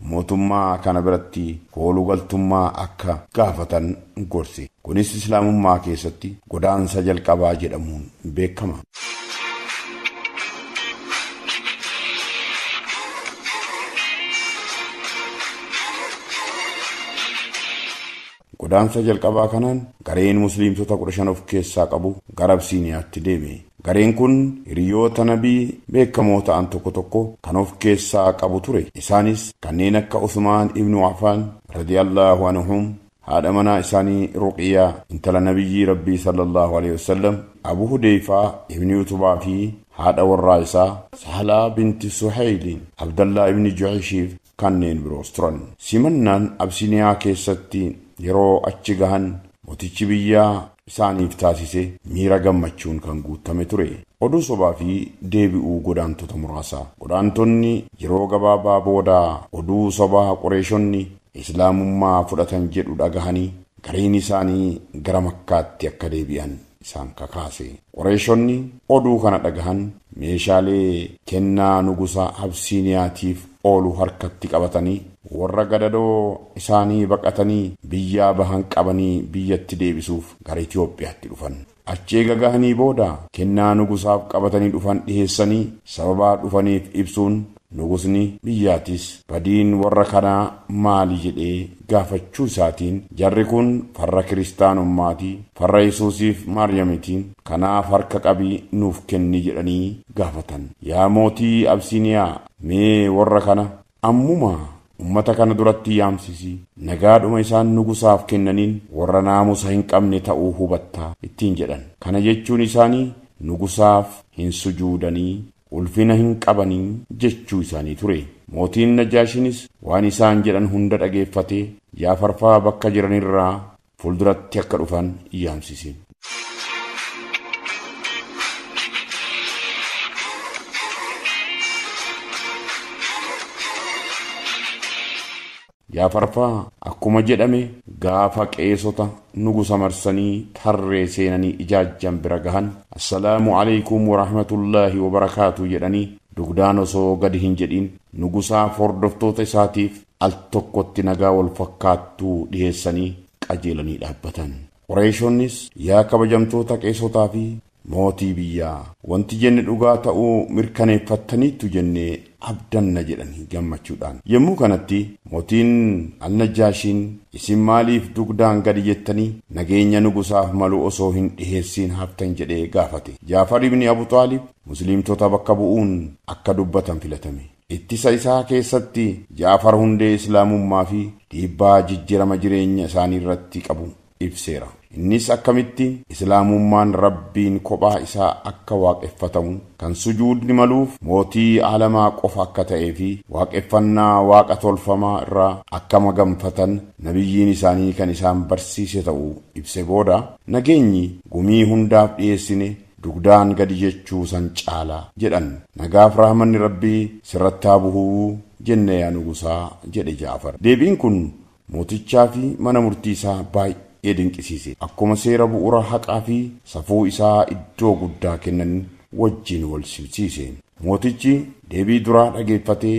mootummaa kana biratti koolu galtummaa akka gaafatan gorse. Kunis Islaamummaa keessatti godaansa jalqabaa jedhamuun beekama. Godaansa jalqabaa kanaan gareen Musliimtota kudha shan of keessaa qabu gara Absiiniyaatti deeme. Gareen kun hiriyoota Nabii beekamoo ta'an tokko tokko kan of keessaa qabu ture. Isaanis kanneen akka Usmaan ibnu Afaan, radiyallaahu anhum, haadha manaa isaanii Ruqiyyaa, intala Nabiyyii Rabbii, sallallaahu aleyhi wa sallam, Abu Hudeeyfaa ibni Utubaa fi haadha warraa isaa, Sahlaa binti Suheyliin, Abdallaa ibni Juhayshif, kanneen biroos turan. Simannaan Abisiniyaa keessatti yeroo achi gahan motichi biyyaa isaaniif taasise miira gammachuun kan guuttame ture. Oduu sobaa fi deebi'uu godaantota muraasa. Godaantonni yeroo gabaabaa booda oduu sobaa Qureeshonni Islaamummaa fudhatan jedhu dhagahanii Gariin isaanii gara Makkaatti akka deebi'an isaan kakaase. Qureeshonni oduu kana dhagahan meeshaalee kennaa nugusa Absiiniyaatiif oolu harkatti qabatanii warra gadadoo isaanii baqatanii biyyaa bahan qabanii biyyatti deebisuuf gara Itoophiyaatti dhufan. Achi eega gahanii booda kennaa nugusaaf qabatanii dhufan dhiheessanii sababaa dhufaniif ibsuun nugusni biyyaatis badiin warra kanaa maali jedhee gaafachuu isaatiin jarri kun farra kiristaanummaati, farra Yesuusiif Maaryamiti, kanaaf harka qabii nuuf kenni jedhanii gaafatan. Yaa mootii Absiiniyaa mee warra kana Ammuma ummata kana duratti yaamsisi, nagaadhuma isaan nugusaaf kennaniin warra naamusa hin qabne ta'uu hubatta ittiin jedhan. Kana jechuun isaanii nugusaaf hin sujuudanii, ulfina hin qabanii jechuu isaanii ture. Mootiin Najaashiinis waan isaan jedhan hunda dhageeffatee Jaafarfaa bakka jiranirraa Fuulduratti akka dhufan yaamsisi. Yaa farfaa akkuma jedhame gaafa qeesota nugusa marsanii tarree seenanii ijaajjan bira gahan assalaamu aleykum warahmatullaahi wabarakaatu jedhanii dugdaan osoo gadi hin jedhin nugusaaf hordoftoota isaatiif al tokkotti nagaa wal fakkaattu dhiheessanii qajeelanii dhaabbatan. Qureeshonnis, Yaa kabajamtoota qeesotaa fi mootii biyyaa! Wanti jenne dhugaa ta'uu mirkaneeffattaniittu jennee abdanna jedhan gammachuudhaan. Yommuu kanatti Mootiin Al-Najjaashiin, Isin maaliif dugdaan gadi jettanii nageenya nugusaaf malu osoo hin dhiheessiin haftan jedhee gaafate. Jaafar ibn Abu Xaalib Musliimtota bakka bu'uun akka dubbatan filatame. Ittisa isaa keessatti Ja'far hundee Islaamummaa fi dhiibbaa jijjirama jireenya isaanii irratti qabu ibseera. Innis akkamitti Islaamummaan Rabbiin kophaa isaa akka waaqeffatamu, kan sujuudni maluuf mootii aalamaa qofa akka ta'ee fi waaqeffannaa waaqa tolfamaa irraa akka maganfatan Nabiyyiin isaanii kan isaan barsiise ta'u ibse booda, Nageenyi gumii hundaaf dhiyeessine dugdaan gadi jechuu san caala jedhan. Nagaaf rahmanni Rabbii sirratti haa buhu jenne yaa nugusaa jedhe Ja'far. Deebiin kun mootichaa fi mana murtii isaa baay'ee dinqisiise. Akkuma seera bu'ura haqaa fi safuu isaa iddoo guddaa kennan wajjin wal simsiise. Mootichi deebii duraa dhageeffatee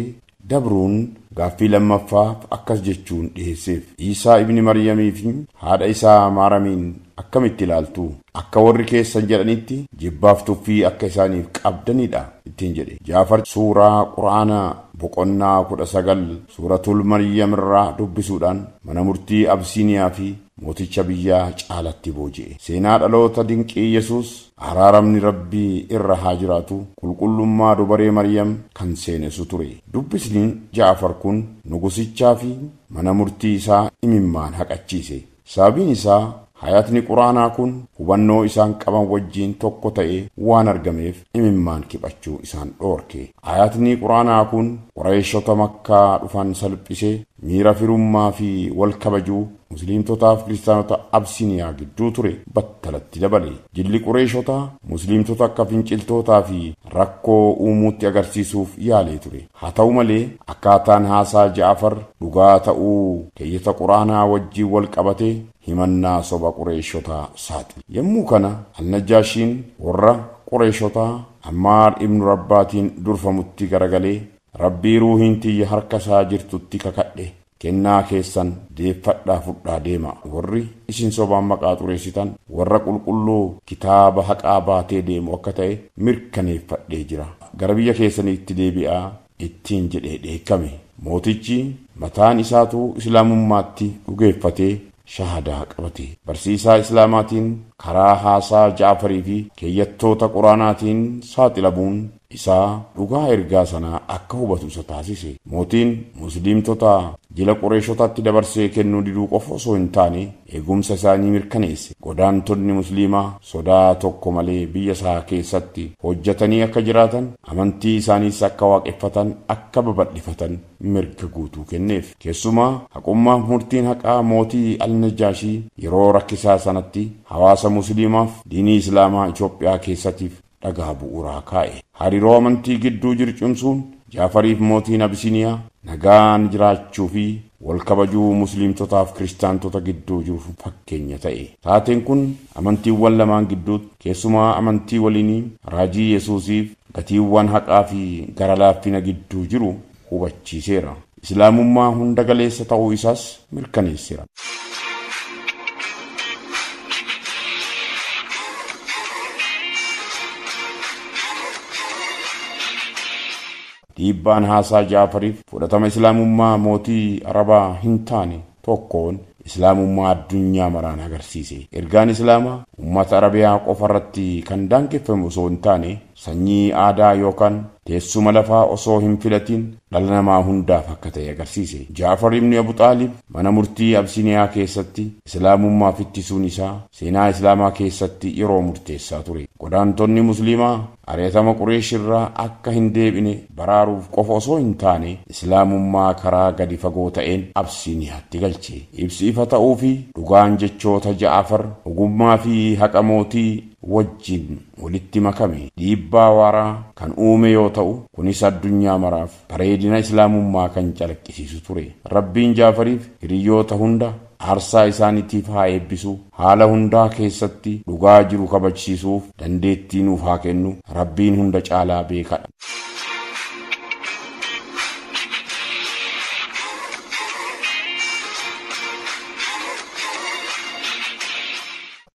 dabruun gaaffii lammaffaa akkas jechuun dhiheesseef, Iisaa ibni Maryamii fi haadha isaa Maaramiin akkamitti ilaaltu? Akka warri keessan jedhanitti jibbaaf tuffii akka isaaniif qabdanidha ittiin jedhe. Jaafar suuraa Qur'aana boqonnaa kudha sagal suuratul Maryam irraa dubbisuudhaan mana murtii Abisiiniyaa fi mooticha biyyaa caalatti booji'e. Seenaa dhaloota dinqii Yesuus Araaramni Rabbi irra haa jiraatu qulqullummaa dubaree Maryam kan seenesu ture. Dubbisni Ja'afar kun nugusichaa fi mana murtii isaa imimmaan haqachiise. Sababiin isaa hayatni Qur'aanaa kun hubannoo isaan qaban wajjiin tokko ta'ee waan argameef imimmaan kiphachuu isaan dhoorke. Ayatni Qur'aanaa kun Qurayshota Makkaa dhufan salphise, Miira firummaa fi wal kabajuu Musliimtotaa fi Kiristaanota Absiniyaa gidduu ture battalatti dabale. Jilli Qureeshotaa, Musliimtota akka finciltootaa fi rakkoo uumuutti agarsiisuuf yaalee ture. Haa ta'u malee, akkaataan haasaa Ja'afar dhugaa ta'uu keeyyata Qur'aanaa wajjin wal qabatee himannaa soba Qureeshotaa saaxile. Yommuu kana, Al-Najjaashiin warra Qureeshotaa Ammaar ibnu Rabbaatiin durfamutti garagalee, Rabbii ruuhiin tiyya harka isaa jirtutti kakadhe kennaa keessan deeffadhaa fudhaa deema warri isin sobaan maqaa xureessitan warra qulqulluu kitaaba haqaa baatee deemu akka ta'e mirkaneeffadhee jira gara biyya keessaniitti deebi'aa ittiin jedhee dheekkame mootichi mataan isaatuu islaamummaatti dhugeeffatee shahadaa qabate. Barsiisaa Islaamaatiin karaa haasaa Ja'afarii fi keeyyattoota Qur'aanaatiin saaxilamuun isaa dhugaa ergaa sanaa akka hubatu isa taasise. Mootiin Musliimtota jila Qureeshotaatti dabarsee kennuu diduu qofa osoo hin taane eegumsa isaanii mirkaneesse. Godaantonni Musliimaa sodaa tokko malee biyya isaa keessatti hojjatanii akka jiraatan, amantii isaaniis akka waaqeffatan, akka babal'ifatan, mirga guutuu kenneef. Keessumaa, haqummaaf murtiin haqaa mootii Al-Najjaashii yeroo rakkisaa sanatti hawaasa Musliimaaf diinii Islaamaa Itoophiyaa keessatiif dhagaa bu'uuraa kaa'e. Hariiroo amantii gidduu jiru cimsuun Jaafariif mootiin Abisiniyaa nagaan jiraachuu fi wal kabajuu Musliimtotaaf Kiristaantota gidduu jiruuf fakkeenya ta'e. Taateen kun amantiiwwan lamaan gidduutti, keessumaa amantii waliinii raajii Yesuusiif, gatiiwwan haqaa fi gara laaffina gidduu jiru hubachiiseera. Islaamummaa hunda galeessa ta'uu isaas mirkaneessera. Dhiibbaan haasaa Ja'fariif fudhatama Islaamummaa mootii Arabaa hin taane tokkoon Islaamummaa addunyaa maraan agarsiise. Ergaan Islaamaa ummata Arabiyaa qofa irratti kan daangeffame osoo hin taane, sanyii, aadaa yookaan teessuma lafaa osoo hin filatiin dhala namaa hundaaf akka ta'e agarsiise. Ja'far ibn Abu Xaalib mana murtii Absiniyaa keessatti Islaamummaaf ittisuun isaa seenaa Islaamaa keessatti yeroo murteessaa ture. Godaantonni Musliimaa Ari'atama Qureesh irraa akka hin deebine baraaruuf qofa osoo hin taane, Islaamummaa karaa gadi fagoo ta'een Absiiniyaatti galche. Ibsi ifa ta'uu fi dhugaan jechoota Ja'afar, ogummaa fi haqa mootii, wajjin walitti makame dhiibbaa waaraa kan uume yoo ta'u, kunis addunyaa maraaf bareedina Islaamummaa kan calaqqisiisu ture. Rabbiin Ja'afariif hiriyyoota hunda, aarsaa isaaniitiif haa eebbisu, haala hundaa keessatti dhugaa jiru kabajsiisuuf dandeettii nuuf haa kennu, Rabbiin hunda caalaa beekadha.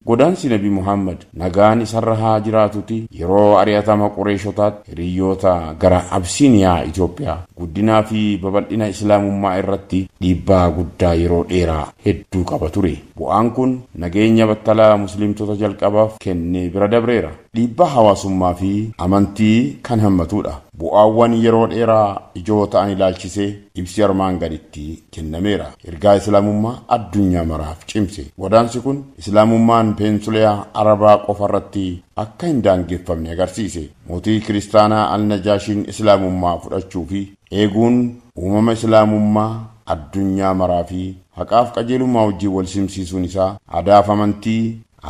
Godaansi Nabi Muhammad, nagaan isarra haa jiraatuti, yeroo ari'atama Qureeshotaatti hiriyyoota gara Absiiniyaa, Itoophiyaa, guddinaa fi babal'ina Islaamummaa irratti dhiibbaa guddaa yeroo dheeraa hedduu qaba ture. Bu'aan kun nageenya battalaa Musliimtota jalqabaaf kenne bira dabreera. Dhiibbaa hawaasummaa fi amantii kan hammatudha. Bu'aawwan yeroo dheeraa ijoo ta'an ilaalchisee Ibsi armaan gaditti kennameera. Ergaa Islaamummaa addunyaa maraaf cimse. Godaansi kun Islaamummaan peensuleyaa Arabaa qofa irratti akka hin daangeffamne agarsiise. Mootii Kiristaanaa Al-Najaashiin Islaamummaa fudhachuu fi eeguun uumama Islaamummaa addunyaa maraa fi haqaaf qajeelummaa wajjin wal simsiisuun isaa aadaaf amantii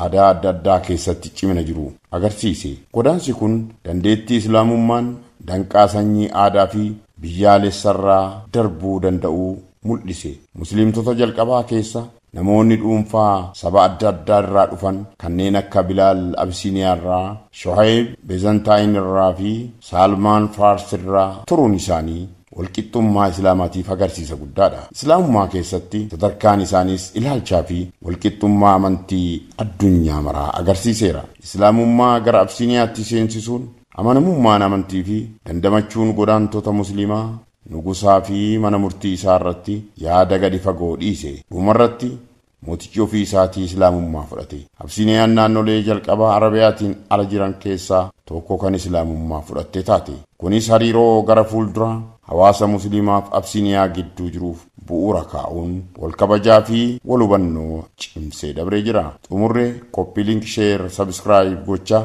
aadaa adda addaa keessatti cimina jiru agarsiise. Godaansi kun dandeettii Islaamummaan danqaa sanyii aadaa fi biyyaalessarraa darbuu danda'uu mul'ise. Musliimtota jalqabaa keessa namoonni dhuunfaa saba adda addaa irraa dhufan kanneen akka Bilaal Abisiiniyaarraa, Shuhayb Bezantaayinirraa fi Saalmaan Faarsirraa turuun isaanii walqixxummaa Islaamaatiif agarsiisa guddaadha. Islaamummaa keessatti sadarkaan isaaniis ilaalchaa fi walqixxummaa amantii addunyaa maraa agarsiiseera. Islaamummaa gara Absiiniyaatti seensisuun amanamummaan amantii fi dandamachuun godaantota Musliimaa nugusaa fi mana murtii isaa irratti yaada gadi fagoo dhiise. Dhumarratti Mootichi ofii isaatii Islaamummaa fudhate. Absiiniyaan naannolee jalqaba Arabiyaatiin ala jiran keessaa tokko kan Islaamummaa fudhatte taate. Kunis hariiroo gara fuulduraa hawaasa Musliimaaf Absiiniyaa gidduu jiruuf bu'uura kaa'uun wal kabajaa fi wal hubannoo cimsee dabree jira. Xumurre Copy Link Share Subscribe gochaa.